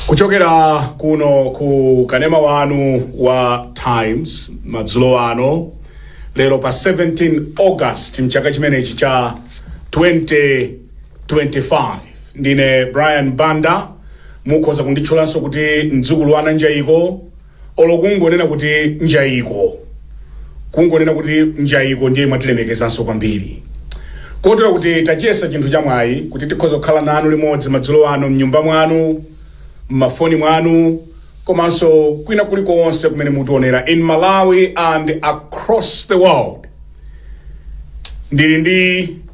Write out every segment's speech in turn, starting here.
kuchokera kuno ku kanema wanu wa times madzulo ano lero pa 17 august mchaka chimenechi cha 2025 ndine brian banda mukhoza kunditchulanso kuti mdzukulu wa ananjayiko olo kungonena kuti njayiko kungonena kuti njayiko ndiye mwatilemekezanso kwambiri kotero kuti tachiyesa chinthu chamwayi kuti tikhoza kukhala nanu limodzi madzulo ano mnyumba mwanu mmafoni mwanu komanso kwina kulikonse kumene mutionera in malawi and across the world ndili ndi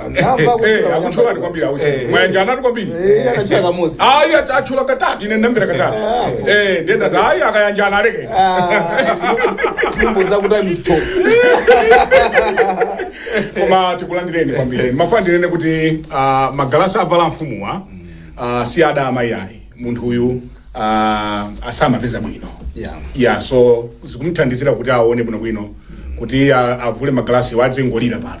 Anamva kuti Eh, anamva akutchulani kuti- kwambiri ausi Eh, mwayanja anati kwambiri Eh, anatchula kamodzi. ayi ach- atchula katatu ine ndamvera katatu Eh, ndiye ndati ayi akayanjana aleke Ah, nyimbo zakuti I'm stop. koma tikulandireni kwambiri mmafuna ndinene kuti ah, magalasi avala amfumuwa ah, si adama ayi munthu uyu ah, samapeza bwino Yeah. ya so zikumthandizira kuti aone bwinobwino kuti ah, avule magalasi iwo adzingolira pano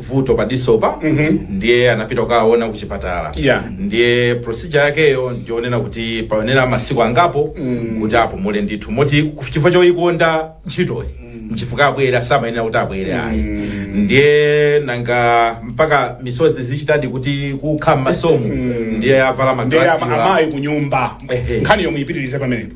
vuto pa disopa ndiye anapita kukaona ku chipatala Yeah. ndiye procedure yakeyo ndionena kuti payenera masiku angapo kuti apumule ndithu moti ku- chifukwa choyikonda ntchitoyi nchifukwa abwera samayenera kuti abwere ayi ndiye nanga mpaka misozi zichitadi kuti kukha mmasomo ndiye avala ndiye magalasi ama- amayi kunyumba Ehe. nkhani yomwe ipitirize pamenepo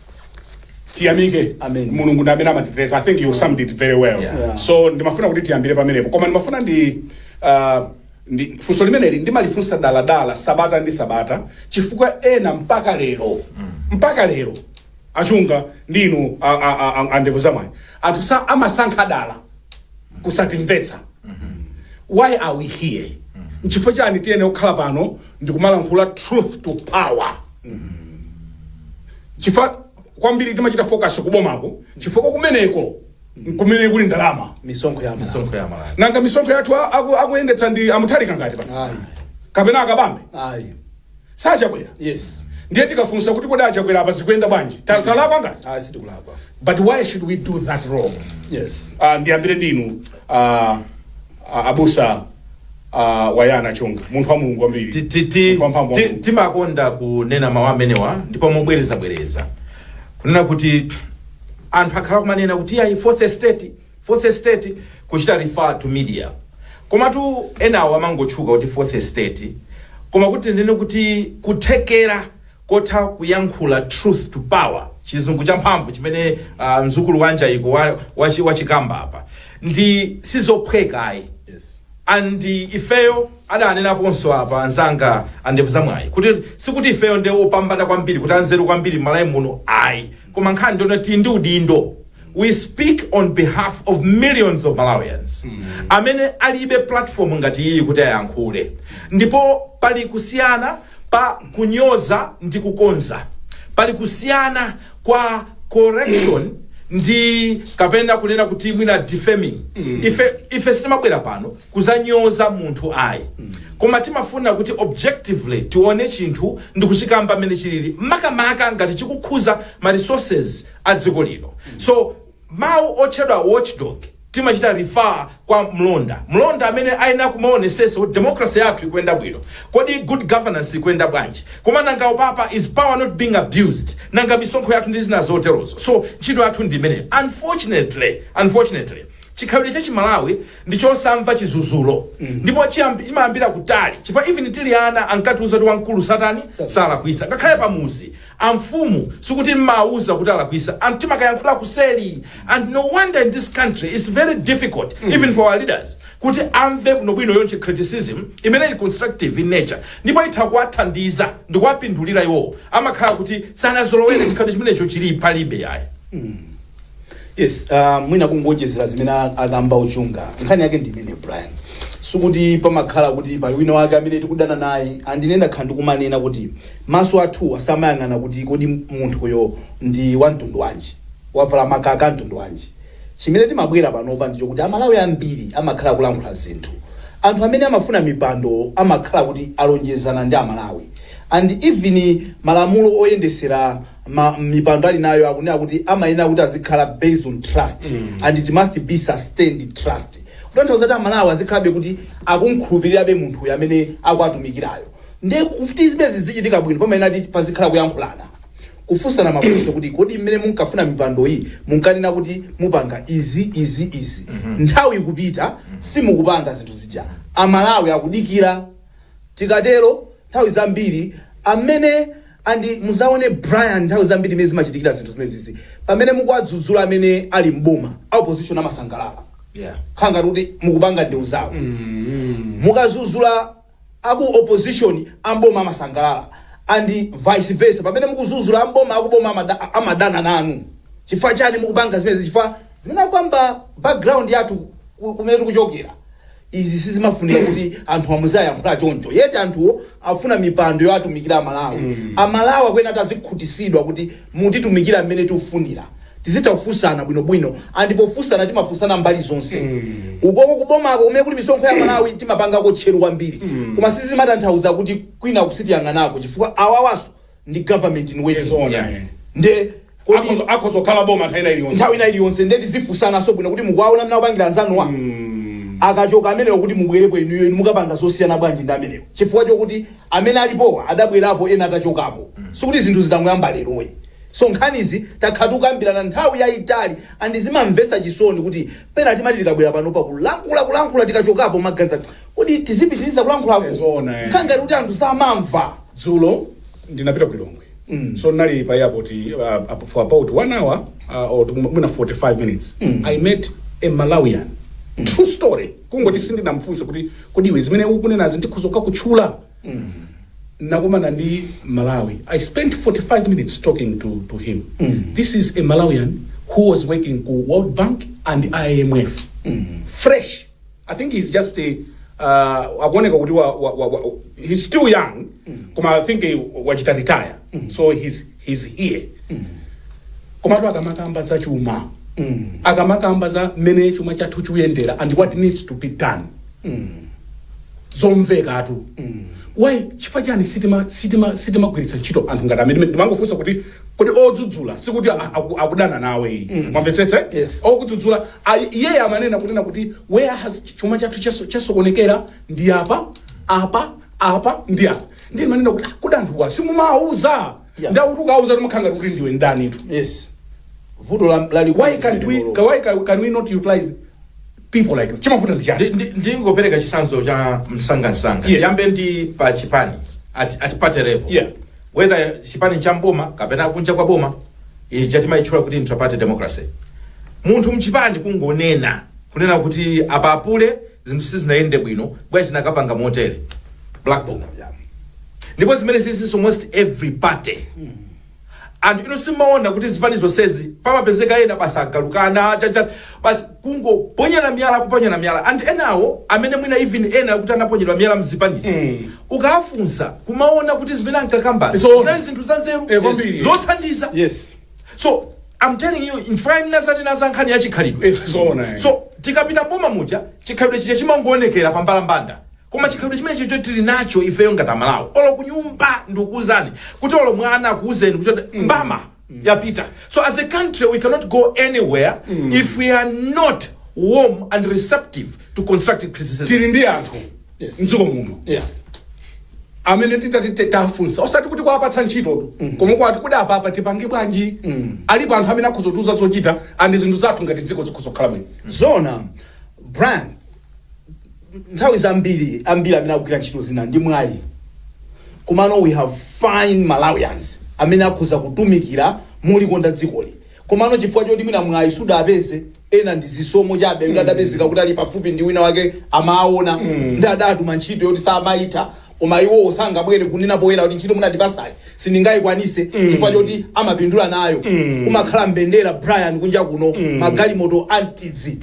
tiyamike Amen. mulungu ndi amene amatiteteza i think you summed it very well Yeah. so ndimafuna kuti tiyambire pamenepo koma ndimafuna ndi uh, ndi funso limeneli ndimalifunsa daladala sabata ndi sabata chifukwa ena mpaka lero mpaka lero achunga ndi inu a- a- a- a- andevu zamwayi anthu sa amasankha dala kusatimvetsa why are we here nchifukwa chani tiyenera kukhala pano ndikumalankhula truth to power chifukwa kwambiri timachita focus kubomako chifukwa kumeneko kumene kuli ndalama misonkho ya amalawi misonkho ya amalawi nanga misonkho yathu a- aku- akuyendetsa ndi a mutharika ngati pa ayi kapena a kabambe ayi si a chakwera yes ndiye tikafunsa kuti kodi a chakwera apa zikuyenda bwanji Ta- talakwa ngati ayi sitikulakwa but why should we do that wrong yes Ah, ndiyambire ndinu ah, A- abusa ah, bayana chunga munthu wa mulungu kwambiri Ti- ti- ti- Munthu wa mphamvu wa ti- Mulungu. timakonda kunena mawu amenewa ndipo mobwerezabwereza kunena kuti anthu akhala kumanena kuti ayi fourth estate fourth estate kuchita refer to media komatu enawo amangotchuka kuti fourth estate koma kuti tinene kuti kuthekera kotha kuyankhula truth to power chizungu champhamvu chimene uh, mzukulu wanja iko wa, wa, wa chikamba apa nde sizophweka ayi yes. and ifeyo adanenaponso apa anzanga andevu zamwayi kuti sikuti ifeyo nde opambana kwambiri kuti anzeru kwambiri m'malawi muno ayi koma nkhani ndi yonati ndi udindo we speak on behalf of millions of malawians amene alibe platform ngati iyi kuti ayankhule ndipo pali kusiyana pa kunyoza ndi kukonza pali kusiyana kwa correction ndi kapena kunena kuti mwina defaming ife sitimabwera pano kuzanyoza munthu ayi koma timafuna kuti objectively tione chinthu ndi kuchikamba mmene chilili makamaka ngati chikukhuza ma resources a dziko lino so mawu otchedwa watchdog timachita refer kwa mlonda mlonda amene amayenera kumaonesesa kuti democracy yathu ikuyenda bwino kodi good governance ikuyenda bwanji koma nanga upapa is power not being abused nanga misonkho yathu ndi zina zoterozo so ntchito yathu ndi imene unfortunately chikhalidwe cha chimalawi ndi chosamva chizuzulo ndipo chiyambi- chimayambira kutali chifukwa even tili ana ankatiuza kuti wamkulu satani salakwisa ngakhale pamuzi Amfumu sikuti mumawauza kuti alakwisa and timakayankhula kuseli and no wonder in this country its very difficult even for our leaders kuti amve bwinobwino yoti criticism imene ili constructive in nature ndipo itha kuwathandiza ndikuwapindulira iwo amakhala kuti sanazolowere chikhalidwe chimenecho chili palibe ayi. Yes, uh, mwina kungoonjezera zimene a- akamba a chunga nkhani yake ndi imene brian sikuti pamakhala kuti pali wina wake amene tikudana naye and ine ndakhala ndikumanena kuti maso athu asamayang'ana kuti kodi munthuyo ndi wa mtundu wanji wavala makaka a mtundu wanji chimene timabwera panopa nchakuti amalawi ambiri amakhala akulankhula zinthu anthu amene amafuna mipando amakhala kuti alonjezana ndi amalawi and even malamulo oyendesera mipando ali nayo akunena kuti amayenera kuti azikhala based on trust and it must be sustained trust kutanthauza kuti amalawi azikhalabe kuti akumkhulupirirabe munthu uyu amene akuwatumikirayo ndiye kuti zimenezi zichitike bwino pamayenera kuti pazikhala kuyankhulana kufunsana mafunso kuti kodi mmene munkafuna mipando iyi munkanena kuti mupanga izi izi izi nthawi ikupita simukupanga zinthu zija amalawi akudikira tikatero nthawi zambiri amene and muzaone Brian nthawi zambiri mene zimachitikira zinthu zimenezizi pamene mukuwadzudzula amene ali mboma a opposition amasangalala Yeah. kukhala ngati kuti mukupanga ndewu zawo mukazuzula aku opposition amboma amasangalala and vice versa pamene mukuzuzula amboma akuboma amada- amadana nanu chifukwa chani mukupanga zimenezi chifukwa zimene akukamba background yathu ku- kumene tikuchokera Izi sizimafunika kuti anthu amuziayankhula choncho yet anthuwo afuna mipando yoatumikira amalawi amalawi akuyenera kuti azikhutisidwa kuti mutitumikira mmene tikufunira tizitha kufunsana bwinobwino and pofunsana timafunsana mbali zonse ukoko kubomako kumene kuli misonkho ya malawi timapangako tcheru kwambiri koma sizimatanthauza kuti kwina uku sitiyang'anako chifukwa awawaso ndi government in waiting Zoona, yeah. eh. nde kodi Akhoza- akhoza kukhala boma nthawi ina iliyonse nthawi ina iliyonse nde tizifunsanaso bwino kuti mukuwaona mmene akupangira anzanuwa akachoka amenewo kuti mubwerepo inuyo inu mukapanga zosiyana bwanji ndi amenewo chifukwa chokuti amene alipowa adabwerapo ena atachokapo sikuti zinthu zidangoyamba leroyi so nkhanizi takhala tikukambirana nthawi yayitali andi zimamvetsa chisoni kuti pena timati tikabwera pano pakulankhula kulankhula tikachokapo magazi Kodi tizipitiliza kulankhulaku Eh, zoona, eh. kukhala ngati kuti anthu samamva dzulo ndinapita ku lilongwe Mm. so nali pa airport uh, up for about one hour uh, or mwina 45 minutes Mm. i met a malawian true story kungoti sindinamfunse kuti kodi iwe zimene ukunenazi ndikhoza kukakutchula nakumana ndi mmalawi i spent 45 minutes talking to, to him Mm. this is a malawian who was working ku world bank and imf fresh I think he's just a uh, akuoneka kuti wa, wa, wa, wa, he's still young koma I think eh, wachita retire so he's, he's here komatu akamakamba za chuma akamakamba za mmene chuma chathu chikuyendera and what needs to be done zomvekatu why chifukwa chani sitima sitima sitimagwiritsa ntchito anthu ngati amene ndimangofunsa kuti kodi odzudzula sikuti a- aku- akudana nawe muwamvetsetse Yes. okudzudzula Ayi, iye amanena, kunena kuti, Where has chuma chathu chaso- chasokonekera? Ndi apa, apa, apa, ndi apa. Ndiye ndimanena kuti, "Ah, kodi anthuwa simumawauza? Yeah. Nde akuti ukawauza umakhala ngati kuti ndiwe ndanitu. yes vuto la- lalikulu Why can't we, limenelo. why can, can we not utilize people like that? Chimavuta ndi chani? Ndi- ndi- ndingopereka chitsanzo cha msangamsanga Yeah. tiyambe ndi pa chipani at, at party level Yeah. whether chipani cha m'boma kapena kunja kwa boma ija timayitchula kuti intraparty democracy munthu mchipani kungonena kunena kuti apa apule zinthu sizinayende bwino bwa tinakapanga motere black book ndipo zimene zizi in almost every party anthu inu simumaona kuti zipani zonsezi pamapezeka ena basi agalukana chacha basi kungoponyana miyala kuponyana miyala and enawo amene mwina even ena kuti anaponyedwa miyala mzipanizi ukafunsa kumaona kuti zimene ankakambazo Zoona. zinali zinthu zanzeru Eh, kwambiri. zothandiza yes so i'm telling you ife ndinazanena za nkhani ya chikhalidwe Eh, zoona, eh. so tikapita m'boma muja chikhalidwe chija chimangoonekera pa mbalambanda koma chikhalidwe chimenechicho tili nacho ifeyo ngati amalawi olo kunyumba ndikuuzani kuti olo mwana akuuzeni kuti mbama yapita so as a country we cannot go anywhere if we are not warm and receptive to constructive criticism tili ndi anthu Yes. mdziko muno yes amene titati te- tafunsa osati kuti kuwapatsa ntchitotu koma kwati kuti apapa tipange bwanji alipo anthu amene akhoza kutiuza zochita and zinthu zathu ngati dziko zikhoza kukhala bwino zona brian nthawi zambiri ambiri amene akugwira ntchito zina ndi mwayi komano we have fine malawians amene akhoza kutumikira molikonda dzikoli komano chifukwa choti mwina mwayi sudapeze ena ndi zisomo chabe kuti adapezeka kuti ali pafupi ndi wina wake amaona ndi adatuma ntchito yoti samayitha koma iwowo sangabwere kunena poyera kuti ntchito munandipasayi sindingayikwanise chifukwa choti amapindula nayo kumakhala mbendera brian kunja kuno magalimoto antidzi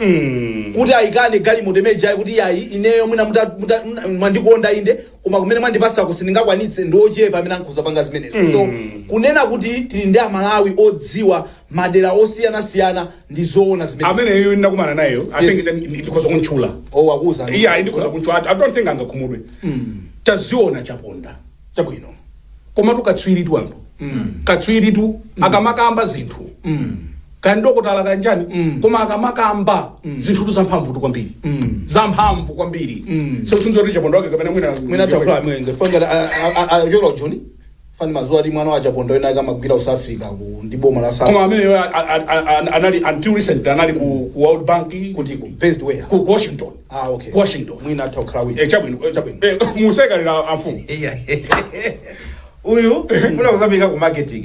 kuti ayikane galimoto imeneyi ayi kuti iyayi ineyo mwina muta- muta- mna- mwandikonda inde koma kumene mwandipasako sindingakwanitse ndiochepa amene ankhoza panga zimenezo so kunena kuti tili ndi amalawi odziwa madera osiyana siyana ndi zoona zimenezo amene ine ndinakumana nayeyo i Yes. think ndi- ndi- ndikhoza kuntchula oh wakuza iye ayi ndikhoza kuntchula i don't think angakhumudwe taziona chaponda chabwino komatu katswiritu anthu katswiritu akamakamba zinthu kandokotala kanjani koma akamakamba zinthutu zamphamvutu kwambiri zamphamvu kwambiri so sinzoti chaponda wake kapena mwina mwina chakula mwenze fanga ayola joni Ifa ndimaziwa kuti mwana wa chaponda wina wake amagwira ku south africa ku ndi boma la south koma ameneyo a- a- a- a- a- anali until recent anali ku, ku world bank kutiko based where ku ku washington ah okay Ku washington mwina atha kukhala wina eh chabwino eh, chabwino eh musekalera amfumu iya uyu funa kuzambika ku marketing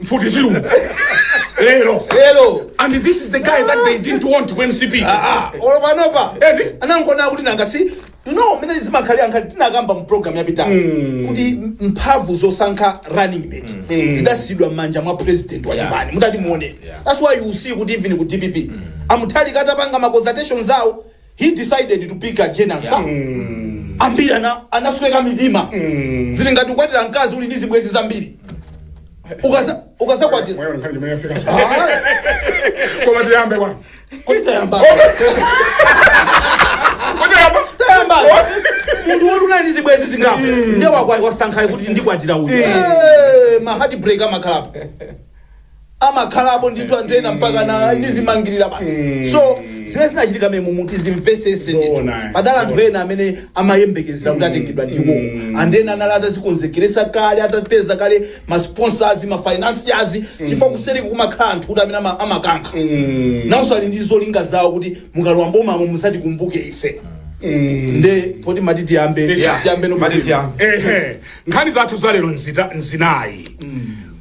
mfuti zilungu lero lero and this is the guy that they didn't want ku mcp Ah, ah, olo panopa Eri. anangona kuti nanga si you know mene zimakhalira nkhali tinakamba mu program yapitayo kuti m- mphamvu zosankha running mate zidasiyidwa m'manja mwa president wa chipani mutati muone that's why you see kuti even ku dpp a mutharika atapanga ma consultations awo he decided to pick a jane ansah ambiri ana- anasweka mitima zili ngati ukwatira mkazi uli ndi zibwenzi zambiri Ukaza- ukazakwatira Mwaona nkhani imene yafika so. Ah, Koma tiyambe bwana. kodi tayamba Kodi yamba? tayamba munthu woti unali ndi zibwenzi zingapo ndiye wakwa- wasankhayo kuti ndikwatira uyu Eh, ma heartbreak amakhalapo amakhalapo ndithu anthu ena mpakana ndizimangirira basi so zimene zinachitika memu muti zimvesese ndithu Zoona. padali anthu ena amene amayembekezera kuti atengedwa ndiwo and ena anali atazikonzekeresa kale atapeza kale masponsors mafinanciers chifukwa kuseri kumakhala anthu kuti amene ama- amakankha nawonso ali ndi zolinga zawo kuti mukalowa mbomamo muzatikumbuke ife nde poti mati tiyambe Yeah. tiyambe no Mati tiyambe. ehe nkhani zathu zalero nzita- nzinayi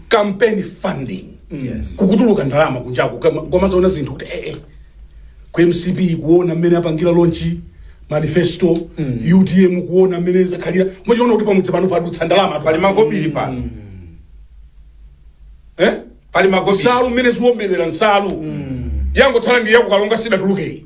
campaign funding Yes. kukutuluka ndalama kunjaku kama- kwamazaona zinthu kuti ee ku mcp kuona mmene apangira lonchi manifesto utm kuona mmene zakhalira mumachita kuona kuti pamudzi pano padutsa ndalama pali makobiri pano eh? pali makobiri nsalu mmene ziombelera nsalu yangotsala ndi yakukalonga sidatulukeyi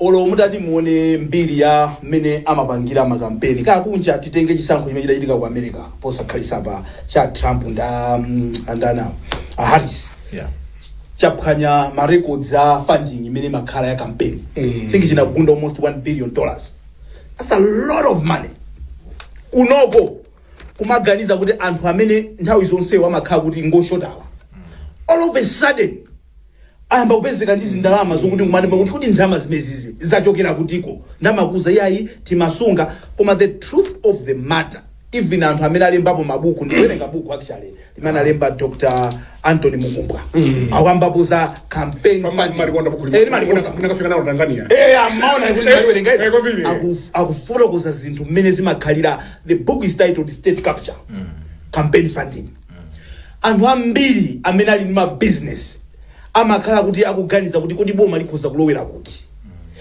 Olo mutati muone mbiri ya mmene amapangira ma kampeni akunja titenge chisankho chimene chidachitika ku America posakhalisapa cha Trump ndi andani awo a Harris Yeah. chaphwanya ma records a funding imene imakhala ya campaign mm. think chinagunda almost 1 billion dollars that's a lot of money kunoko kumaganiza kuti anthu amene nthawi zonsewo amakhala kuti ngoshotawa all of a sudden ayamba kupezeka ndi zindalama zokuti nkumati kuti kuti ndalama zimezizi zachokera kutiko nkumakuuza iyayi timasunga koma the truth of the matter even anthu amene alembapo mabuku ndikuwerenga buku actually limene alemba dr anthony mukumbwa akukambapo za campaign funding. Mumalikonda buku Eh, ndimalikonda. lomwe. Munakafika nalo Tanzania. Eh, amaona kuti ndikuwerenga Eh, eh, kwambiri. Aku- akufotokoza zinthu mmene zimakhalira the book is titled state capture campaign funding anthu ambiri amene ali ndi mabizinesi amakhala kuti akuganiza kuti kodi boma likhoza kulowera kuti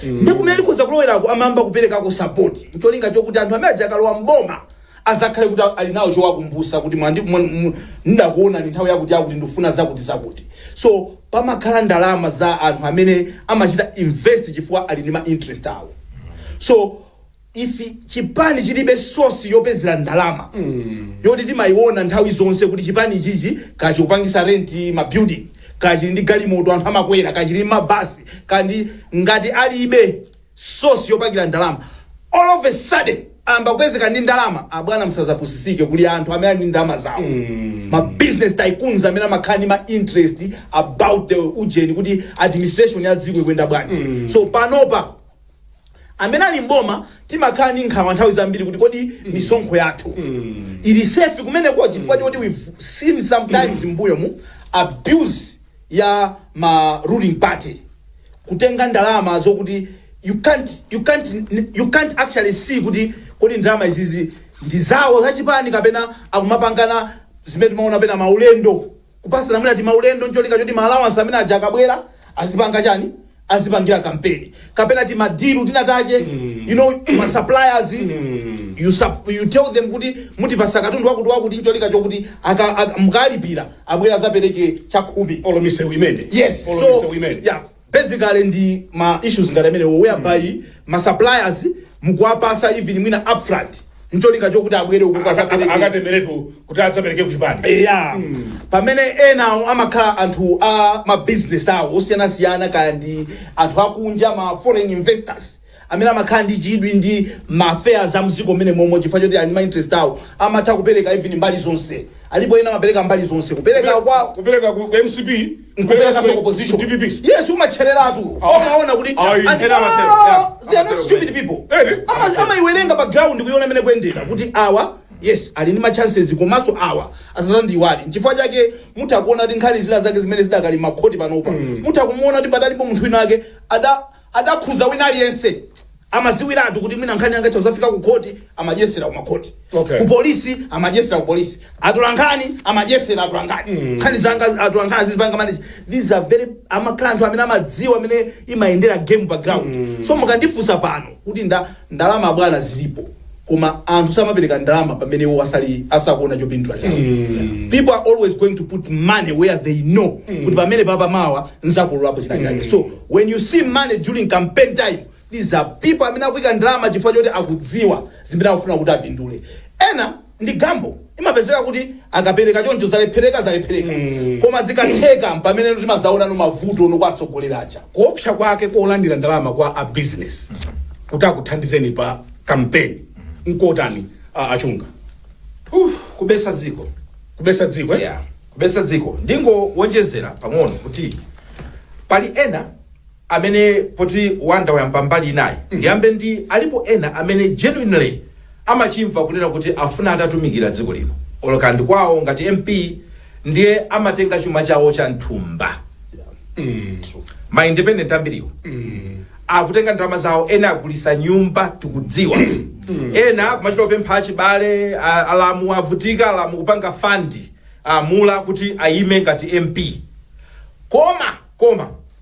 ndi kumene likhoza kulowerako amayamba kuperekako sapoti ncholinga chokuti anthu amene aja akalowa mboma azakhale kuti ali nawo chowakumbusa kuti mwandi mwa- mu- ndakuonani nthawi yakuti yakuti ndifuna zakuti zakuti so pamakhala ndalama za anthu amene amachita invest chifukwa ali ndi ma interest awo so if chipani chilibe source yopezera ndalama yoti timayiona nthawi zonse kuti chipani chichi kaya chikupangisa rent ma building kaya chili ndi galimoto anthu amakwera kaya chili ndi mabasi kandi ngati alibe source yopangira ndalama all of a sudden amba kupezeka ndi ndalama abwana msazapusisike kuli anthu amene ali ndi ndalama zawo ma business tycoons amene amakhala ndi ma interest about the ujeni kuti administration ya dziko ikuyenda bwanji so panopa amene ali mboma timakhala ndi nkhawa nthawi zambiri kuti kodi misonkho yathu ili safe kumeneko chifukwa choti we've seen sometimes m'mbuyomu abuse ya ma ruling party kutenga ndalama zokuti you can't, you can't, you can't actually see kuti kodi ndalama izizi ndi zawo zachipani kapena akumapangana zimene timaona pena maulendo Kupatsana mwina timaulendo n'cholinga choti ma allowance amene aja akabwera azipanga chani? Azipangira kampeni. Kapena timadilu tinatache, you know, ma suppliers, you, sup, you tell them kuti mutipasa katundu wakuti wakuti n'cholinga chokuti aka- aka- mukalipira abwera azapereke chakhumi. Olo misewu imene. Yes, Olo so, misewu imene. yeah, basically ndi ma issues ngati amenewo whereby ma suppliers mukuwapasa even mwina upfront ncholinga chokuti abwere uku Aka- aka- kazapereke akatengeretu kuti adzapereke kuchipani eya pamene enawo amakhala anthu a mabizinesi awo osiyanasiyana kaya ndi anthu akunja ma foreign investors amene amakhala ndi chidwi ndi ma affairs a mziko muno momwe chifukwa choti ali ndi ma interests awo amatha kupereka even mbali zonse alipo ena amapereka mbali zonse kupereka kwa kupereka ku ku mcp kupereka ku opposition dpp yes umatchereratu Ah. umaona kuti Ah, and- yeah. Ena amatero, Ah, yeah. they are not Amatero, stupid yeah. people Eh, eh. Ama- amaiwerenga pa ground kuiona mmene ikuyendera kuti awa yes ali ndi ma chances komanso awa asazandiwali nchifukwa chake mutha kuona kuti nkhani zina zake zimene zidakali makhoti panopa mutha kumaona kuti padalipo munthu wina ake ada adakhuza wina aliyense amaziwiratu kuti mwina nkhani yanga itha kuzafika ku khoti amadyesera ku makhoti Okay. ku polisi amadyesera ku polisi atolankhani amadyesera atolankhani nkhani zanga atolankhani zizipanga manage these are very amakhala anthu amene amadziwa mmene imayendera game pa ground so mukandifunsa pano kuti nda Ndalama abwana zilipo koma anthu samapereka ndalama pamene iwo asali asakuona chopindula chawo mm. people are always going to put money where they know mm. kuti pamene papa mawa nzakololapo china chake mm. so when you see money during campaign time these are people amene akuika ndalama chifukwa choti akudziwa zimene akufuna kuti apindule ena ndi gamble imapezeka kuti akapereka choncho zalephereka zalephereka koma zikatheka mpamene timazaona ano mavuto ano kwa atsogoleri aja kuopsa kwake kolandira ndalama kwa a business kuti akuthandizeni pa kampeni nkotani a- achunga Uf, kubesa dziko kubesa dziko eh? yeah. kubesa dziko ndingowonjezera pang'ono kuti pali ena amene poti Wonder wayamba mbali inayo ndiyambe ndi alipo ena amene genuinely amachimva kunena kuti afuna atatumikira dziko lino or kaya ndi kwawo ngati mp ndiye amatenga chuma chawo cha nthumba ma independent ambiriwo akutenga ndalama zawo ena agulisa nyumba tikudziwa ena kumachita kupempha achibale a- alamu avutika alamu kupanga fund a mulamu kuti ayime ngati mp koma koma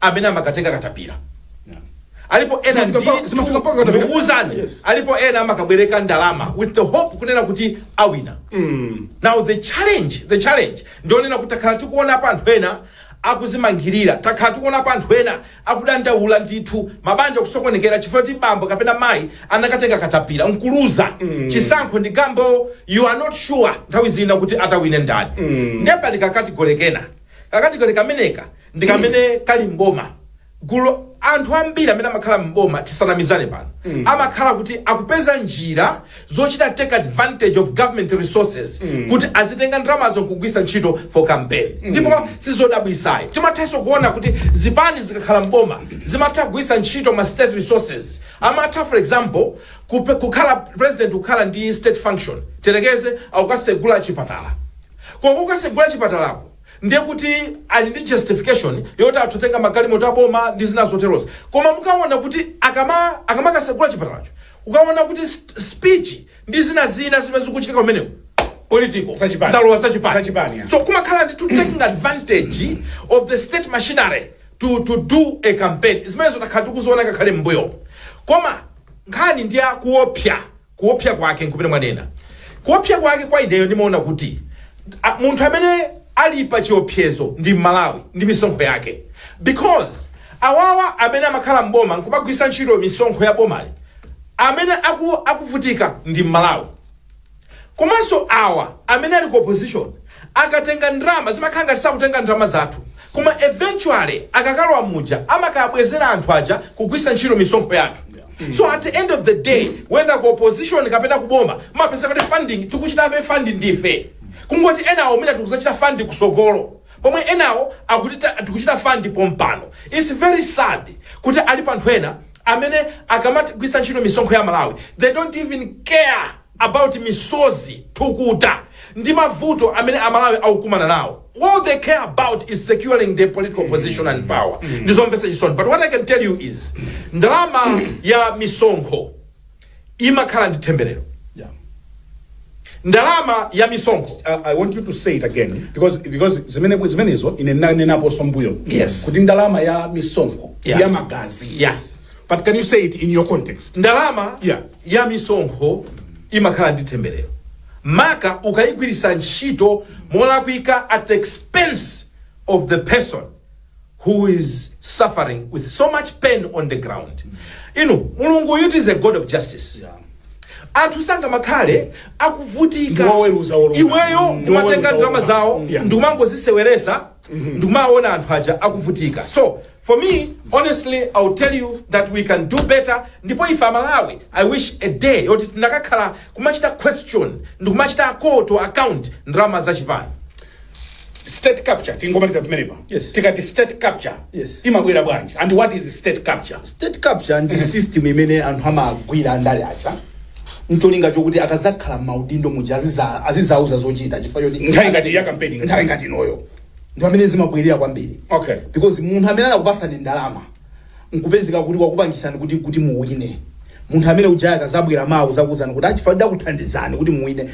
amene amakatenga katapira alipo ena Zimafika ndi pa- zimafika mpaka katapira. ndikukuuzani Yes. alipo ena amakabwereka ndalama with the hope kunena kuti awina now the challenge the challenge ndi yonena kuti takhala tikuonapo anthu ena akuzimangirira takhala tikuonapo anthu ena akudandaula ndithu mabanja kusokonekera chifukwa ti bambo kapena mayi anakatenga katapira nkuluza chisankho ndi gamble you are not sure nthawi zina kuti atawine ndani mm. nde pali kakatigole kena kakatigole kameneka ndi kamene kali m'boma gulu anthu ambiri amene amakhala m'boma tisanamizanepo pano amakhala kuti akupeza njira zochita take advantage of government resources kuti azitenga ndalamazo nkugwisa ntchito for campaign ndipo sizodabwisayi timathanso kuona kuti zipani zikakhala m'boma zimatha kugwisa ntchito ma state resources amatha for example kupe- kukhala president kukhala ndi state function tiyerekeze akukasegula chipatala koma kukasegula chipatalako ndiye kuti ali ndi justification yoti atha kutenga magalimoto aboma ndi zina zoterozo koma mukawona kuti akama akamakasegula chipatalacho ukawona kuti st- speech ndi zina zina zimene zikuchitika kumeneko political Zachipani. zalowa zachipani Zachipani, yeah. so kumakhala ndithu taking advantage of the state machinery to, to do a campaign zimenezo takhala tikuziona ngakhale m'mbuyo koma nkhani ndi ya kuopsa Kuopsa kwake nkumene mwanena. Kuopsa kwake kwa ineyo ndimaona kuti a, munthu amene ali pa chiopsezo ndi Mmalawi ndi misonkho yake because awawa amene amakhala m'boma nkumagwisa ntchito misonkho ya bomali amene aku, akuvutika ndi Mmalawi komanso awa amene ali ku opposition akatenga ndalama zimakhala ngati sakutenga ndalama zathu koma eventually akakalowa muja amakabwezera anthu aja kugwisa ntchito misonkho yathu so at the end of the day whether ku opposition kapena kuboma mupeza kuti funding tikuchitabe fund ndife kungoti enawo mwina tikuzachita fund kusogolo pomwe enawo akuti ta- tikuchita fund pompano its very sad kuti alipo anthu ena amene akamagwisa ntchito misonkho ya amalawi they don't even care about misozi, thukuta ndi mavuto amene amalawi akukumana nawo all they care about is securing their political position and power ndizomvetsa chisoni but what i can tell you is ndalama ya misonkho imakhala ndi themberero Yeah. ndalama ya misonkho I, I want you to say it again because because zimene zimenezo ine ndinanenaponso mbuyo Yes. kuti ndalama ya misonkho Yeah. ndi ya magazi Yes. But can you say it in your context? ndalama Yeah. ya misonkho imakhala ndi themberero maka ukayigwiritsa ntchito molakwika at the expense of the person who is suffering with so much pain on the ground inu mulunguyutu is a god of justice anthu sangamakhale akuvutika Ndiwoweruza wolungama. iweyo Ndiwoweruza umatenga ndalama wolungama. zawo Yeah. ndikumangoziseweresa ndikumaona anthu aja akuvutika so for me honestly ill tell you that we can do better ndipo ife amalawi i wish a day yoti tinakakhala kumachita question ndikumachita call to account ndalama za chipani state capture tingomaliza pamenepa Yes. tikati state capture Yes. imabwera bwanji and what is state capture state capture ndi system imene anthu amagwira andale aja ndi cholinga chokuti akazakhala m'maudindo muja aziza- azizauza zochita chifukwa choti Nthawi ngati ya campaign ngati. nthawi ngati inoyo ndi pamene zimabwera kwambiri Okay. because munthu amene anakupasani ndalama nkupezeka kuti wakupangisani kuti kuti muwine munthu amene uja akazabwera mawa azakuuzani kuti chifukwa ndakuthandizani kuti muwine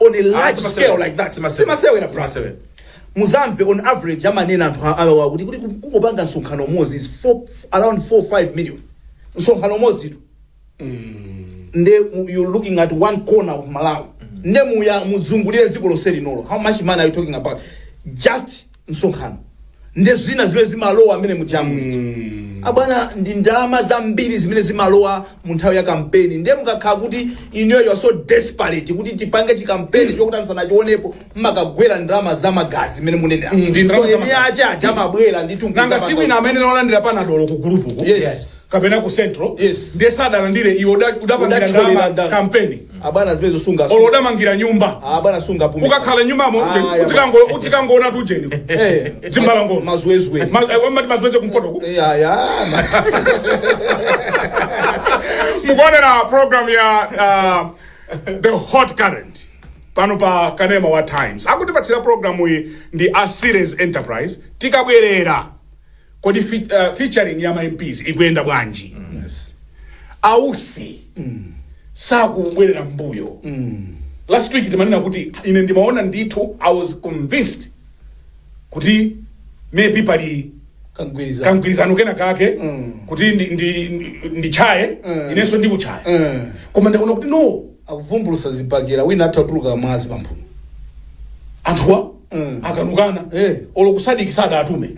on a large simasewera. scale like that Simasewera. simasewera bra Simasewera. muzamve on average amanena anthu a- awawa kuti kuti kungopanga msonkhano umodzi is four- f- around 4 5 million msonkhano umodzi tu nde mu- you're looking at one corner of malawi ndiye muzungulire dziko lonse linolo how much money are you talking about just msonkhano ndi zina zimene zimalowa amene mujamu zija abwana ndi ndalama zambiri zimene zimalowa mu nthawi ya kampeni ndiye mukakhala kuti inuyo you are so desperate kuti tipange chikampeni chokuti anthu sanachionepo mumakagwira ndalama za magazi zimene munenera Mm, ndi ndalama so za eni magazi. ache aja amabwera ndithu nanga siku lina mumakalandira panadolo ku gulupuku Yes. kapena ku central Yes. ndiye sadalandire iwe uda- udapangira Udatcholera ndalama ndalama. kampeni abwana zimenezo sunga olo udamangira nyumba abwana sungapume ukakhala nyumbamo Ah, uje- ya udzikango- udzikangoona tujeni eh Zimbalangondo. mazwezwe Ma- eh, amati mazwezwe kumpotoku eh ya ya mukuonera program ya uh, the hot current pano pa kanema wa times akutipatsira programu iyi ndi a series enterprise tikabwerera Kodi fi, uh, featuring ya ma MPs ikuyenda bwanji? Yes. A Usi sakubwerera mbuyo. Last week timanena kuti ine ndimaona ndithu I was convinced kuti maybe pali kagwirizano kangwirizano kena kake Mm. kuti ndi, ndi, ndi, nditchaye Mm. inenso ndikutchaye Mm. koma ndaona kuti no akuvumbulusa zibakera wina atha kutuluka mwazi pamphuno anthuwa akanukana Eh. olo kusadiki sadatume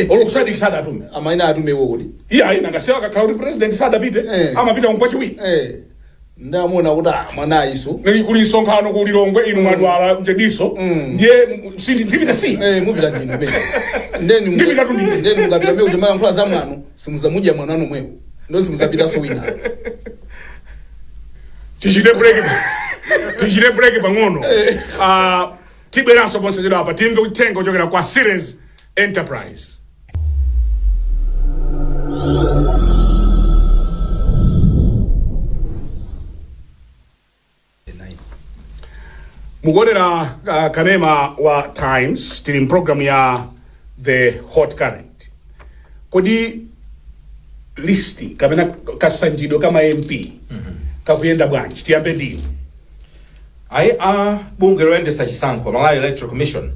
olo kusadiki sadatume amaina atumewo kuti iye ayi nanga si akakhala kuti president sadapite Eh. amapita kumpachiwiri Eh, ndamuona kuti ah, mwana ayiso Ni kuli msonkhano ku lilongwe inu mwadwala mjedinso Mm. ndiye m- si ndipita si Eh, mupita ndinu mene ndeni Ndipita tu ndine. ndeni mukapita mbe uja mayankhula za mwano simudzamudziwa mwana wanu momwemo ndipo simudzapitanso winayo tichite break tichite break pang'ono Ah, tibweranso posachedwapa timve uthenga kuchokera kwa series enterprise mukuonera uh, kanema wa times tili mu pulogalamu ya the hot current kodi listi kapena kasanjidwe ka ma mp kakuyenda bwanji tiyambe ndinu ayi a bungwe loyendesa chisankho malawi electoral commission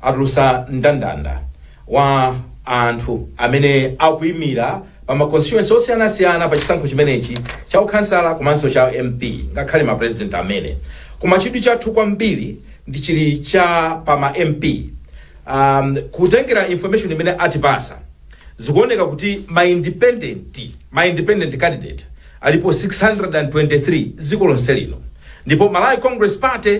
atulusa ndandanda wa anthu amene akuyimira pa ma constituency osiyanasiyana pa chisankho chimenechi cha ukhansala komanso cha MP ngakhale ma president amene. Koma chidwi chathu kwambiri ndi chili cha pa ma MP. Um, kutengera information imene atipasa zikuoneka kuti ma independent, ma independent candidate alipo 623 dziko lonse lino ndipo Malawi Congress Party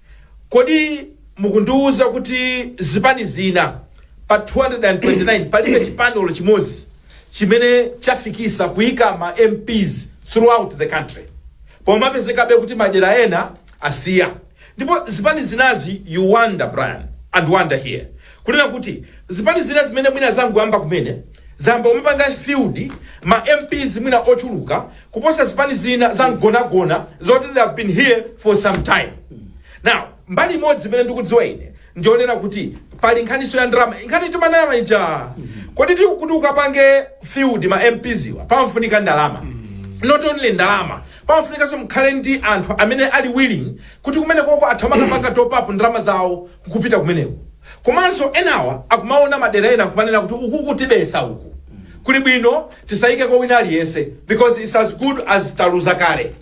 Kodi mukundiuza kuti zipani zina pa 229 palibe chipani olo chimodzi chimene chafikisa kuika ma mps throughout the country pomwe mapezekabe kuti madera ena asiya ndipo zipani zinazi you wonder Brian and Wonder here kunena kuti zipani zina zimene mwina zangoyamba kumene zayamba kumapanga field ma mps mwina ochuluka kuposa zipani zina za mgonagona zoti they have been here for some time now mbali imodzi imene ndikudziwa ine ndiyonena kuti pali nkhaniso ya ndalama nkhani timanena ija kodi ti- kuti ukapange field ma mps wa pamafunika ndalama not only ndalama pamafunikanso mukhale ndi anthu amene ali willing kuti kumenekoko atha kumakapanga top up ndalama zawo kupita kumeneko komanso enawa akumaona madera ena nkumanena kuti uku kutibesa uku kuli bwino tisayikeko wina aliyese because it's as good as taluza kale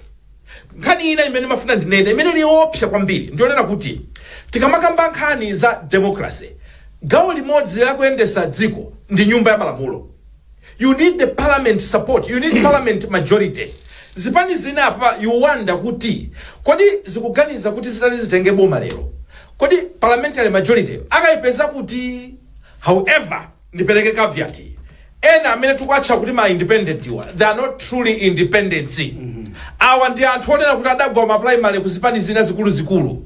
nkhani ina imene mafuna ndinene imene ili yoopsa kwambiri ndiyonena kuti tikamakamba nkhani za democracy gawo limodzi lakuyendesa dziko ndi nyumba ya malamulo you need the parliament support you need parliament majority zipani zina apa you wonder kuti kodi zikuganiza kuti zitati zitenge boma lero kodi parliamentary majority akayipeza kuti however ndipereke caveat ena amene tikuwatcha kuti ma independent iwa they are not truly independents awa ndi anthu onena kuti adagwa ma primary ku zipani zina zikuluzikulu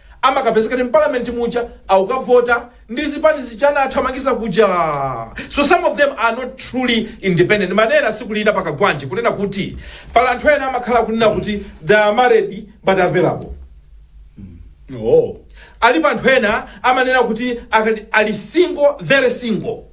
amakapezekadi m'parliament muja akukavota ndi zipani zija anawathamangisa kuja so some of them are not truly independent manena siku lina pakagwanje kunena kuti pali anthu ena amakhala kunena kuti they are married but available oh. alipo anthu ena amanena kuti ali single very single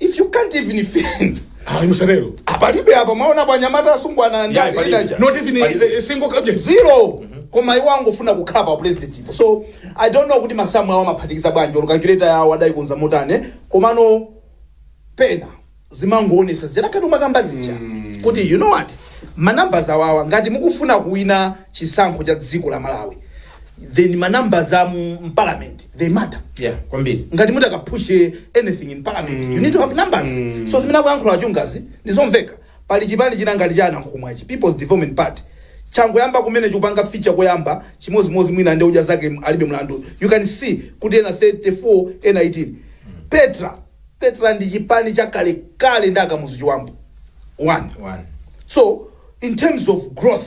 if you can't even field ayi musatero palibe apa mwaona pa anyamata asungwana Yeah, ndani palibe. idaja not even Palibe. a, a single coach zero koma iwo angofuna kukhala pa president ipo so i don't know kuti masamu awo amaphatikiza bwanji olo calculator yawo adayikonza motani komano pena zimangoonesa zidakati umakamba zija kuti you know what manumbers awawa ngati mukufuna kuwina chisankho cha dziko la malawi then ma numbers am in parliament they matter yeah kwambiri ngati muti mukapushe anything in parliament you need to have numbers so zimene akuyankhula achungazi ndizomveka pali chipani china ngati cha a nankhumwa chi people's development party changoyamba kumene chikupanga feature koyamba chimozimozi mwina ndi odya zake alibe mlandu you can see kuti ena 34 ena 18 petra petra ndi chipani cha kalekale ndi akamuzu chibambo one one so in terms of growth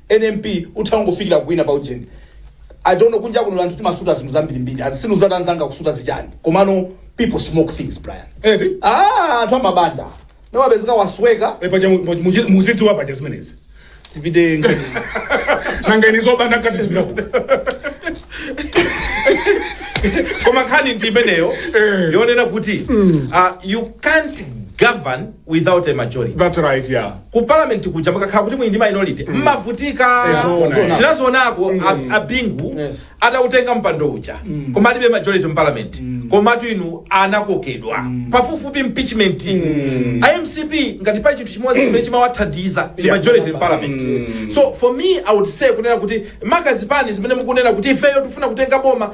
any MP utha kungofikira kuwina pa ujeni I don't know kunja kuno anthu timasuta zinthu zambirimbiri sindidziwa kuti anzanga akusuta zichani komano people smoke things Brian Eti? ah anthu amabanda nawapezeka wasweka Eh, paja mu- mu- mu- muzidziwa paja zimenezi tipite ngeni nanga ine zobanda nkazidziwira kuti koma nkhani ndi imeneyo yonena kuti uh, you can't govern without a majority That's right, yeah. ku parliament kuja mukakhala kuti muli ndi minority mmavutika Eh, zoona, eh. tinazionako a- abingu atautenga mpando uja koma alibe majority mu parliament komatu inu anakokedwa pafupifupi impeachment a mcp ngati pali chinthu chimodzi chimene chimawathandiza ndi Yeah. majority in parliament so for me i would say kunena kuti maka zipani zimene mukunena kuti ifeyo tifuna kutenga boma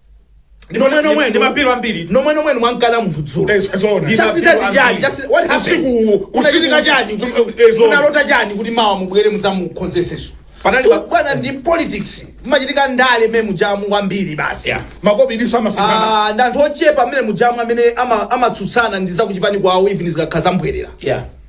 nomwe nomwe ndi mapilo ambiri nomwe nomwe mwankana munthu dzulo Eh, zoona. Ndi chasintha mapilo ndi chani ambiri. Chasita- what happened? Usiku uwu, Kunachitika usiku- chani Kuti- eh, zoona. munalota chani kuti mawa mubwere muzamukonzeseso Panali pa- bwana ndi politics machitika ndale mmene mujamu kwambiri basi Yeah. makobidiso amasinana Ah, ndi anthu ochepa mmene mujamu amene ama- amatsutsana ndi zakuchipani kwawo even zikakhala zambwerera yeah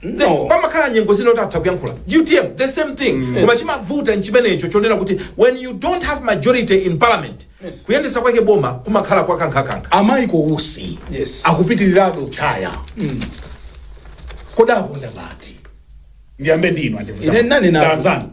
The- No. pamakhala nyengo zina kuti atha kuyankhula utm the same thing koma chimavuta nchimenecho chonena kuti when you don't have majority in parliament Yes. kuyendesa kwake boma kumakhala kwakankhakankha a Michael Usi Yes. akupitirirabe utchaya kodi aponda ngati ndiyambe ndinu Ine nani napo? andifuanzanu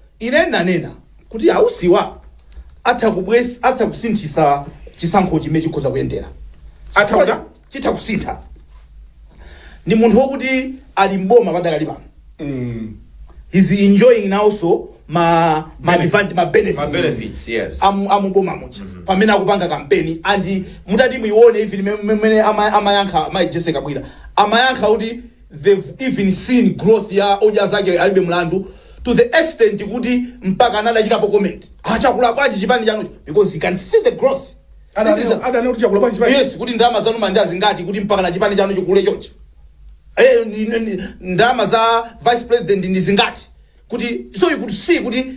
Ine ndinanena kuti Ausiwa atha kubwez, atha kusinthisa chisankhochi mmene chikhoza kuyendera. Atha Chifukwa kuta? chitha kusintha. Ndi munthu wokuti ali m'boma padakali pano. Mm. He's enjoying now so ma ma Benefit. advantage ma benefits. Ma benefits, yes. Amu amuboma muja. Pamene akupanga kampeni and mutati muione even mmene ama- amayankha Mai Jessie Kabwila. Amayankha kuti they've even seen growth ya odya zake alibe mlandu to the extent kuti mpakana adachitapo comment ah chakula bwanji chipani chanucho because he can see the growth This is a- adanena kuti chakula bwanji chipani yes kuti ndalama zanu mmalandira zingati kuti mpakana chipani chanu chikule chonchi Eh, ni- ni- ni- ndalama za vice president ndi zingati kuti so you could see kuti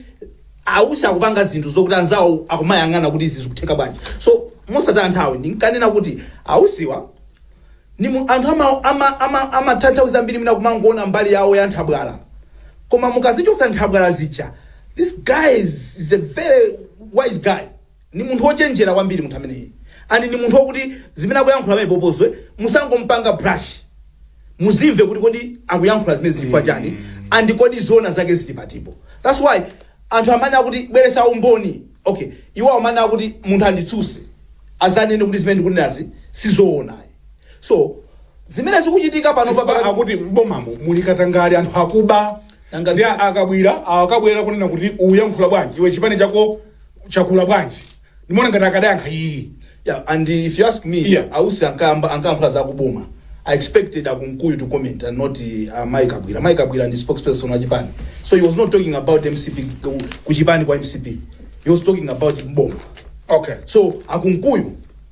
ausi akupanga zinthu zokuti anzawo akumayang'ana kuti izi zikutheka bwanji so mosataya nthawi ndinkanena kuti ausiwa ni mu- anthu amatanthauza ama, ama, amatanthauzo ambiri mwina kumangoona mbali yawo ya nthabwala koma mukazichosa nthabwala zija this guy is, is a very wise guy Ndi munthu ochenjera kwambiri munthu ameneyi and ndi munthu okuti zimene akuyankhula pamene popozwe musangompanga brush muzimve kuti kodi akuyankhula zimene zichifukwa chani and kodi zoona zake zili patipa that's why anthu amene akuti bweretsa umboni okay iwo amene akuti munthu anditsuse azanene kuti zimene ndikunenazi sizoona so zimene zikuchitika pano Chifukwa papa akuti mbomamo muli katangale anthu akuba Nanga ndi zina- akabwira akabwera kunena kuti uyankhula bwanji iwe chipani chako chakula bwanji ndimaona ngati akadayankha iyi Yeah, and if you ask me, Yeah. ausi ankayamba ankayankhula za kuboma. I expected akunkuyu to comment and not uh, Mayi Kabwira. Mayi Kabwira ndi spokesperson wa chipani. So he was not talking about MCP ku- kuchipani kwa MCP. He was talking about mboma. okay So akunkuyu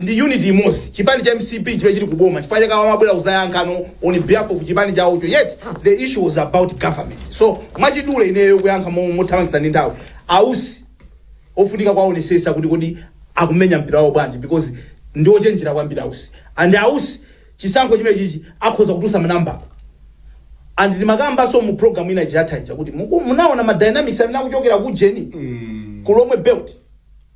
ndi unity imodzi chipani cha mcp chimene chili kuboma chifukwa chake amabwera kuzayankhapo on behalf of chipani chawocho yet the issue was about government so mwachidule ineyo kuyankha mo- mothamangisa ndi nthawi ausi ofunika kwaonesesa kuti kodi akumenya mpira wawo bwanji because ndi ochenjera kwambiri ausi and ausi chisankho chimenechichi akhoza kutusa manambala and ndi ndimakambanso mu program ina chiyathaija kuti muku- mwaona ma dynamics amene akuchokera ku jeni ku lomwe belt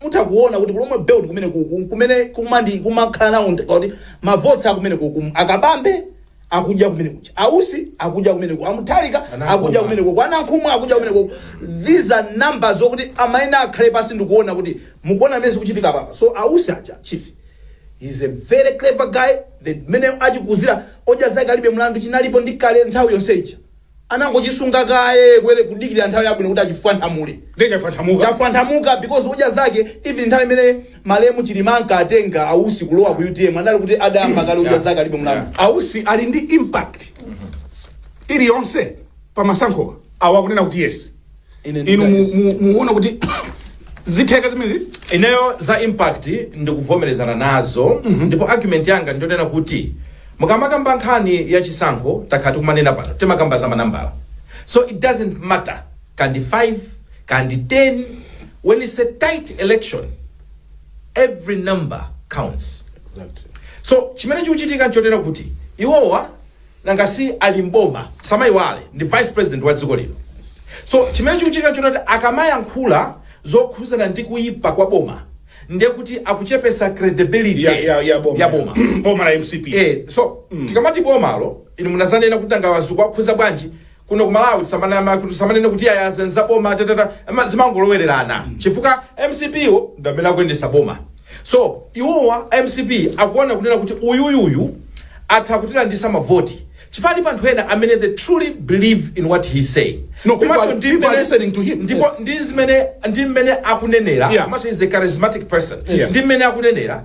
Mutha kuona kuti ku lomwe belt kumenekuku nkumene kumandi kumakhala nawo ntha- pakuti mavoti akumenekuku a Kabambe akudya kumenekuja Ausi akudya kumeneko Amutharika akudya Anankhumwa. kumenekuku Anankhumwa akudya kumenekuku these are numbers zokuti amayenera akhale pansi ndikuona kuti mukuona mene zikuchitika apapa so Ausi aja chief He's a very clever guy. Nde mene achikuzira odya zake alibe mlandu chinalipo ndi kale nthawi yonse ija. anangochisunga kaye phee kudikirira nthawi yabwino kuti achifwanthamule ndiye chafwanthamuka chafwanthamuka because odya zake even nthawi imene malemu chilima ankatenga ausi kulowa ku utm anali kuti adayamba kale odya zake alibe mlandu ausi ali ndi impact iliyonse pa masankho awa akunena kuti yes Ine ndi inu mu- guys. mu- muona kuti zitheka zimenezi ineyo za impact ndikuvomerezana nazo ndipo argument yanga ndiyonena kuti mukamakamba nkhani ya chisankho takhala tikumanena pano timakamba za manambala so it doesn't matter kandi 5 kandi 10 when it's a tight election every number counts Exactly. so chimene chikuchitika nchonena kuti iwowa nanga si ali mboma samaiwale ndi vice president wa dziko lino so chimene chikuchitika nchonena kuti akamayankhula zokhuzana ndi kuyipa kwa boma ndiye kuti akuchepesa credibility ya, ya, ya boma ya boma boma la mcp eh, so tikamati bomalo inu munazanena kuti a Ngwazi ukuwakhudza bwanji kuno ku malawi tisamanama kuti tisamanene kuti ayi izi nza boma tatata ama- zimangolowererana chifukwa mcp wo ndi amene akuyendesa boma so iwowa mcp akuona kunena kuti uyuyuyu atha kutilandisa mavoti chifukwa pali anthu ena amene they truly believe in what he's saying No, people Komanso are- ndi people are mmene- listening to him. ndipo Yes. ndi zimene ndi mmene akunenera Yeah. komanso he's a charismatic person Yeah. ndi mmene akunenera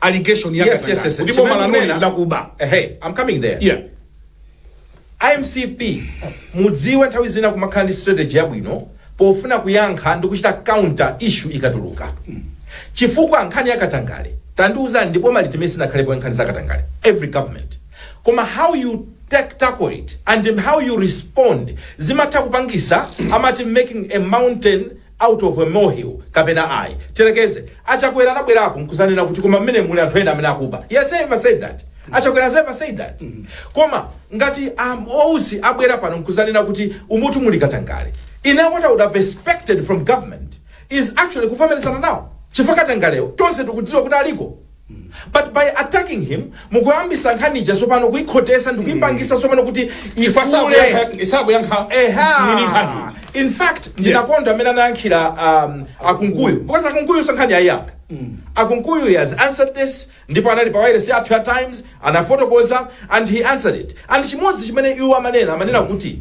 allegation ya Yes, yes, katangale yes. kuti boma Chimene lanuli kunena- lakuba Eh, hey, I'm coming there. yeah mcp mudziwe nthawi zina kumakhala ndi strategy yabwino pofuna kuyankha ndi kuchita counter issue ikatuluka chifukwa nkhani ya katangale tandiuzani ndi boma liti limene sinakhalepo nkhani za katangale every government koma how you take tackle it and how you respond zimatha kupangisa amati making a mountain out of a molehill kapena ayi. Tiyerekeze, a Chakwera anabwerapo nkuzanena kuti koma mmenemu muli anthu ena amene akuba. He has ever said that? A Chakwera has ever said that? Koma ngati a Usi abwera pano nkuzanena kuti umutu muli katangale. Ine what I would have expected from government is actually kuvomerezana nawo. Chifukwa katangalewo tonse tikudziwa kuti aliko. But by attacking him mukuyambisa nkhani ija sopano kuikhotesa ndikuipangisa mm. sopano kuti ikule sakuyankha eha in fact ndinakonda mmene anayankhira um, a kunkuyu because a kunkuyunso nkhaniyi ayiyankha mm. a kunkuyu he has answered this ndipo anali pa wireless yathu ya times anafotokoza and he answered it and chimodzi chimene iwo amanena amanena kuti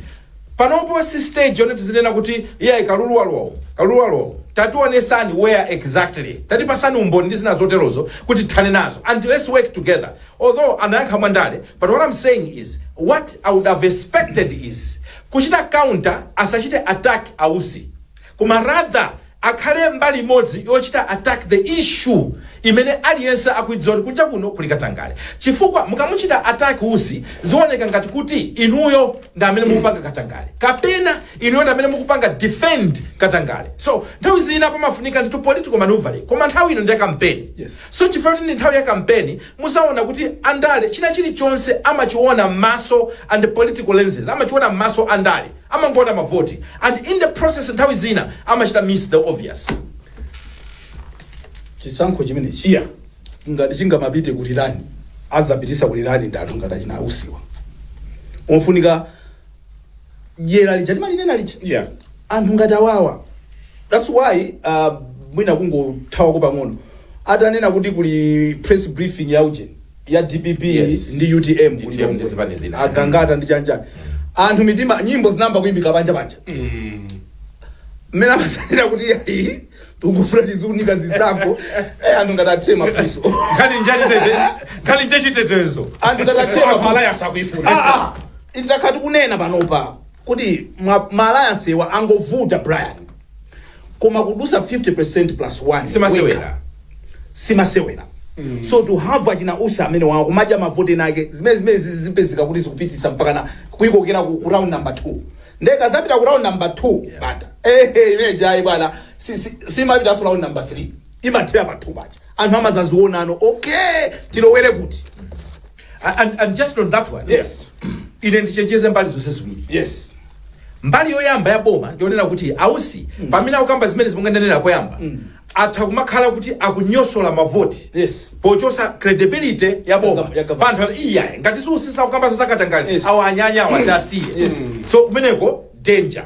Panopo si stage yoti tizinena kuti iyayi Kalulu walowa umu, Kalulu walowa umu. Tationesani where exactly. Tatipasani umboni ndi zina zoterozo kuti tithane nazo and let's work together. Although anayankha mwa ndale but what I'm saying is what I would have expected is kuchita counter asachite attack a Usi koma rather akhale mbali imodzi yochita attack the issue imene aliyense akuidziwa kuti kunja kuno kuli katangale chifukwa mukamuchita attack Usi zioneka ngati kuti inuyo ndi amene mukupanga katangale kapena inuyo ndi amene mukupanga defend katangale so nthawi zina pamafunika ndithu political manoeuvring koma nthawi ino ndi ya kampeni Yes. so chifukwa kuti ndi nthawi ya kampeni muzaona kuti andale china chilichonse amachiona m'maso and political lenses amachiona m'maso andale Amangoona mavoti and in the process nthawi zina amachita miss the obvious. chisankho chimenechi ngati chingamapite ku rerun azapitisa ku rerun ndi anthu ngati achina ausiwa ofunika dyera lija timalinena lija Yeah. anthu ngati awawa that's why uh, mwina kungothawako pang'ono atanena kuti kuli press briefing ya ujeni ya dpp Yes. ndi utm ku Utm ndi zipani zina. Lilongwe. agangata ndi chanjani anthu mitima nyimbo zinayamba kuimbika panja panja mmene amachitira kuti yayi tikufuna tiziunika zisankho eh, anthu ngati athe mapuso nkhani njachitete nkhani njachitetezo anthu ngati athe mapuso malaya sakuifuna Ah, ah. idzakhala tikunena panopa kuti ma- ma alliance-wa angovuta brian koma kudusa 50% plus 1 simasewera simasewera mm. so to have achina usi amene wawo akumadya mavote nake zimene zimene zizipezeka kuti zikupitiriza mpakana kuyikokera ku, ku round number 2 nde kazapita ku round number 2 yeah. bata ehe imene jayi bwana si, si, simapitaso round number 3 imathera pa 2 paja anthu amazaziona ano okay tilowere kuti A- and, and just on that one Yes. ine ndichenjeze mbali zonse ziwiri Yes. mbali yoyamba ya boma ndionena kuti ausi pamene akukamba zimene zimene munanenera poyamba atha kumakhala kuti akunyosola mavoti Yes. pochosa credibility ya Ya boma gov- ya government. anthu ati iyayi ngati si Usi akukamba za katangale Yes. awa anyanya awa tiwasiye Yes. so kumeneko danger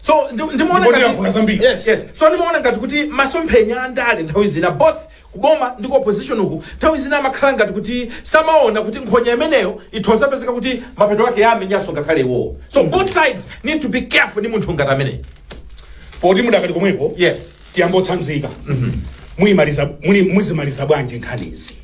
so ndi- ndimaona Ndipo ngati- ndiyankhula zambiri. Yes, yes. so ndimaona ngati kuti masomphenya a ndale nthawi zina both kuboma ndi ku opposition uku nthawi zina amakhala ngati kuti samaona kuti nkhonya imeneyo itha kupezeka kuti mapeto ake yamenyanso ngakhale iwowo so both sides need to be careful ndi munthu ngati ameneyi poti mudakali komweko yes tiyangotsanzika muyimaliza muli- muzimaliza bwanji nkhanizi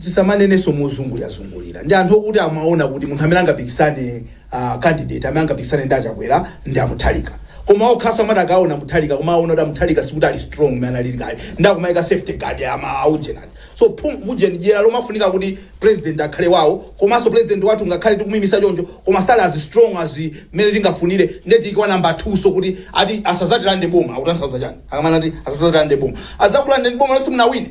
tisamanenenso mozungulirazungulira ndi anthu okuti amaona kuti munthu amene angapikisane uh, candidate amene angapikisane ndi a Chakwera ndi a Mutharika koma okhaso amati akaona Mutharika koma aona kuti a Mutharika sikuti ali strong mmene analili kale ndi akumayika safety guard ya aujeni so ujeni dyera lomafunika kuti president akhale wawo komanso president wathu ngakhale tikumimisa choncho koma sali as strong as mmene tingafunire nde tiikewo namba 2 so kuti ati asazatirande boma akutanthauza chani akamanena ati asazatirande boma azakulandeni boma lonse musanawine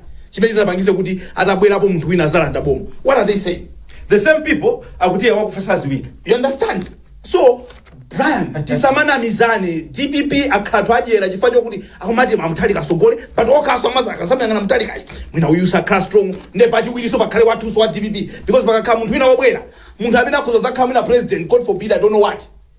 chimene chingapangitse kuti atabwerapo munthu wina azalanda boma what are they saying the same people akuti iye wakufa saziwika you understand so brian tisamanamizane dpp akhala adyera chifukwa chokuti akumati a Mutharika atsogole but okhaso amaza akamuyang'ana Mutharika ayi mwina uyu sakhala strong nde pachiwiriso pakhale wathuso wa dpp because pakakhala munthu wina wobwera munthu amene akhoza zakhala mwina president god forbid i don't know what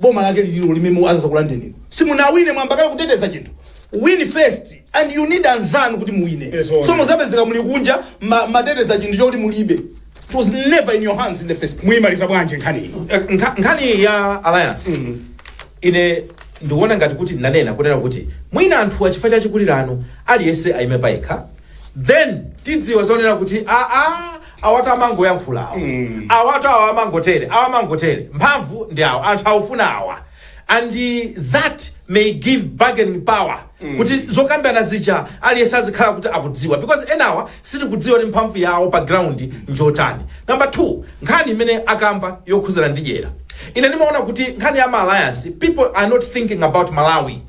boma lake lilo limene azakulandeni inu simunawine mwayamba kale kuteteza chinthu win first and you need anzanu kuti muwine Yes, all so right. muzapezeka muli kunja ma- mateteza chinthu choti mulibe it was never in your hands in the first place muyimaliza bwanji nkhani iyi Eh, nkha- nkhani ya alliance ine ndikuona ngati kuti nanena kunena kuti mwina anthu chifukwa cha chikulirano aliyense ayime payekha then tidziwa zonena kuti aa Awatu amangoyankhula awa. Awatu awa amangotere, awa amangotere. Mphamvu ndi awa, anthu akufuna awa. And that may give bargaining power kuti zokambirana zija aliyense azikhala kuti akudziwa because enawa sitikudziwa kuti mphamvu yawo pa ground njotani. Number two, nkhani imene akamba yokhuzana ndi dyera. Ine ndimaona kuti nkhani ya ma alliance, people are not thinking about Malawi.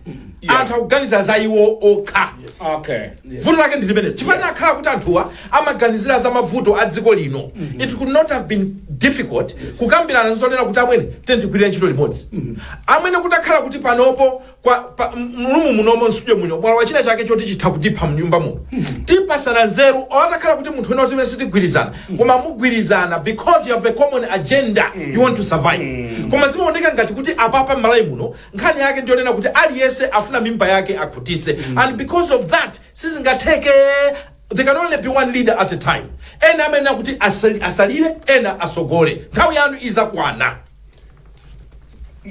Anthu akuganiza za iwo okha. Okay. vuto lake ndi limene chifukwa atakhala kuti anthuwa amaganizira za mavuto a dziko lino it could not have been difficult kukambirana nzonena kuti amwene tiyeni tigwire ntchito limodzi amwene kutakhala kuti panopo kwa pa- m- mu room munomo mu studio muno mwalowa china chake choti chitha kutipha mnyumba muno tipasana nzeru atakhala kuti munthu wina amene sitigwirizana koma mugwirizana because you have a common agenda you want to survive koma zimaoneka ngati kuti apapa m'malawi muno nkhani yake ndiyonena kuti aliyese afuna mimba yake akhutise mm. and because of that sizingatheke there can only be one leader at a time ena amayenera kuti asali- asalire ena asogole nthawi yanu izakwana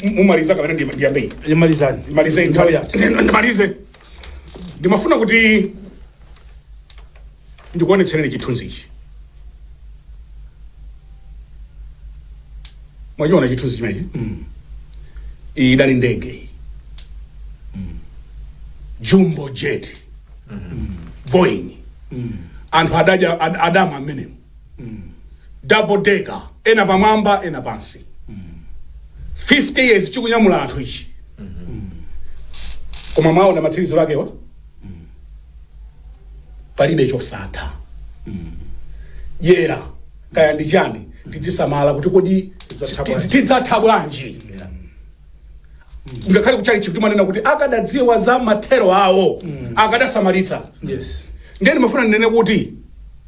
mumalize kapena ndi- ndiyambe ine imalizani ndimalize Nthawi yathu. ndimalize ndimafuna kuti ndikuonetsereni chithunzi ichi mwachiona chithunzi chimenechi mm. iyi idali ndege iyi mm. jumbo jet mm. boeing mm. anthu adadya ad, adama mmenemo mm. double decker ena pamwamba ena pansi mm. 50 years chikunyamula anthu ichi mm. koma mwaona matsiriziro akewa palibe chosatha dyera kaya ndi chani tidzisamala kuti kodi Tidzatha ti- bwanji? tidzatha bwanji ngakhale kuchalichi timanena kuti akadadziwa za mathero awo akadasamalitsa yes ndiye ndimafuna ndinene kuti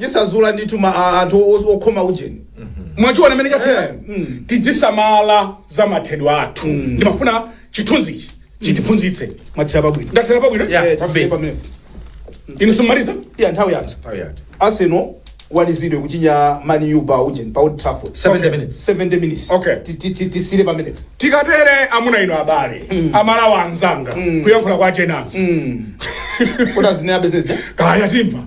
chisazula ndithu ma a- anthu os- okhoma ujeni mwachiona mmene chathera tidzisamala za mathedwe athu ndimafuna chithunzi ichi chitiphunzitse mwathera pabwino ndathera pabwino Yeah. Eh, kwambiri. tisiye pomwepo. inu simumaliza iya nthawi yathu Nthawi yathu. arsenal analizidwa kuchinya man u pa ujeni pa old trafford 70 minutes. 70 minutes Okay. Ti- ti- ti- tisiye pamene tikatere amuna ino abale amalawa anzanga kuyankhula kwa ujeninso kuti azinena business kaya timva